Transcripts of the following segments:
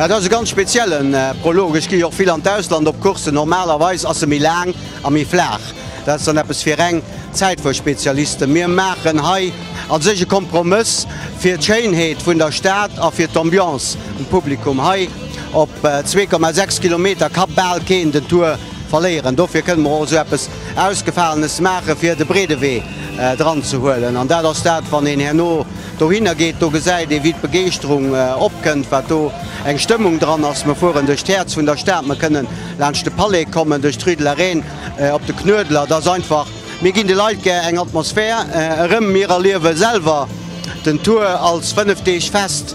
Dat ass e ganz speziellen Prolog. Ech ginn jo och vill an d'Ausland op Courssen. Normalerweis ass e méi laang a méi flaach. Dat ass dann eppes fir reng Zäitfuerspezialisten. Mir maachen hei a sech e Kompromëss fir d'Schéinheet vun der Stad a fir d'Ambiance vum Publikum hei. Op zwee Komma sechs Kilometer ka bal keen den Tour verléieren. Dofir kënne mer och esou eppes Ausgefalenes maachen, fir de Breedewee dran ze huelen. An dat ass dat, wann een herno dohinner geet, do gesäit ee wéi d'Begeeschterung opkënnt, wat do eng Stëmmung dran ass. Mer fueren duerch d'Häerz vun der Stad, mer kënnen laanscht de Palais kommen, duerch d'Rue de la Reine op de Knuedler. Et ass einfach, mir ginn de Leit gär eng Atmosphär erëm, mir erliewe selwer den Tour als fënnef Deeg Fest.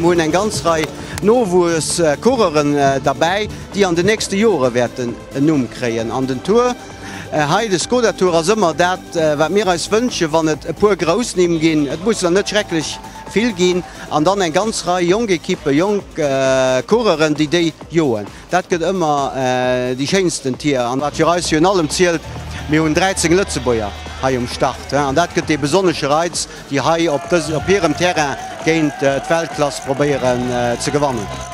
Mir hunn eng ganz Rei Nowuesscoureuren derbäi, déi an de nächste Jore wäerten en Numm kréien. An den Tour hei, de Skoda Tour, ass ëmmer dat, wat mir eis wënschen, wann et e puer grouss Nimm ginn. Et mussen der net schrecklech vill ginn. an dann eng ganz Rei jonk Ekippen, jonk Coureuren, déi déi joen. Dat gëtt ëmmer déi schéinsten Tier. An wat fir eis virun allem zielt, mir hunn 13 Lëtzebuerger hei um Start an dat gëtt dee besonnesche Reiz, déi hei op hirem Terrain géint d'Weltklass probéieren ze gewannen.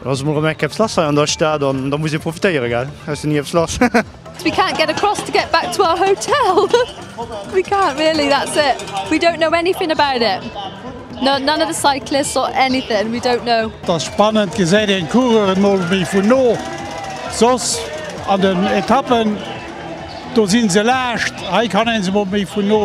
Et ass emol rem enk eppes lass hei an der Stad an da muss ee profitéieren gell, aus den ni eppes lass. We can't get across to get back to our hotel we can't really that's it we don't know anything about it no none of the cyclists or anything we don't know. Et ass spannend, gesäit een d'Coureuren mol méi vun no, soss an den Etappen do si se laascht, hei kann ee se mol méi vun no.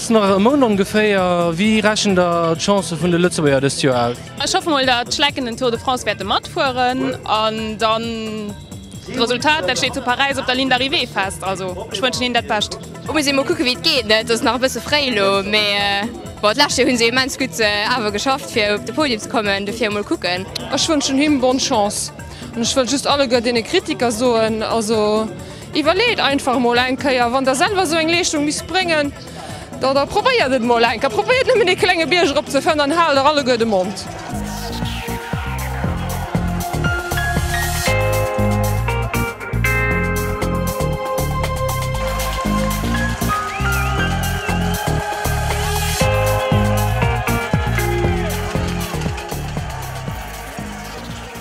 Ass nach e Mount ongeféier. Wéi rechent der d'Chancë vun de Lëtzebuerger dëst Joer aus? Ech hoffe mol dat d'Schlecken den Tour de France wäerte matfueren an dann d'Resultat dat steet zu Paräis op der Ligne d'arrivée fest. Also ech wënschen hinnen dat Bescht. Et muss ee mol kucke wéi et geet. Et ass nach e bësse fréi elo, mee bon d'lescht Joer hu se immens gutt awer geschafft fir op de Podium ze kommen, dofir mol kucken. Ech wënschen him bonne chance an ech wëll just alleguer deene Kritiker soen, also. Iwwerleet einfach emol eng Kéier, wann der selwer esou eng Leeschtung misst bréngen, oder probéiert et emol eng Kéier. Probéiert nëmmen ee klenge Bierg erop ze fëllen an haalt der alleguer de Mond.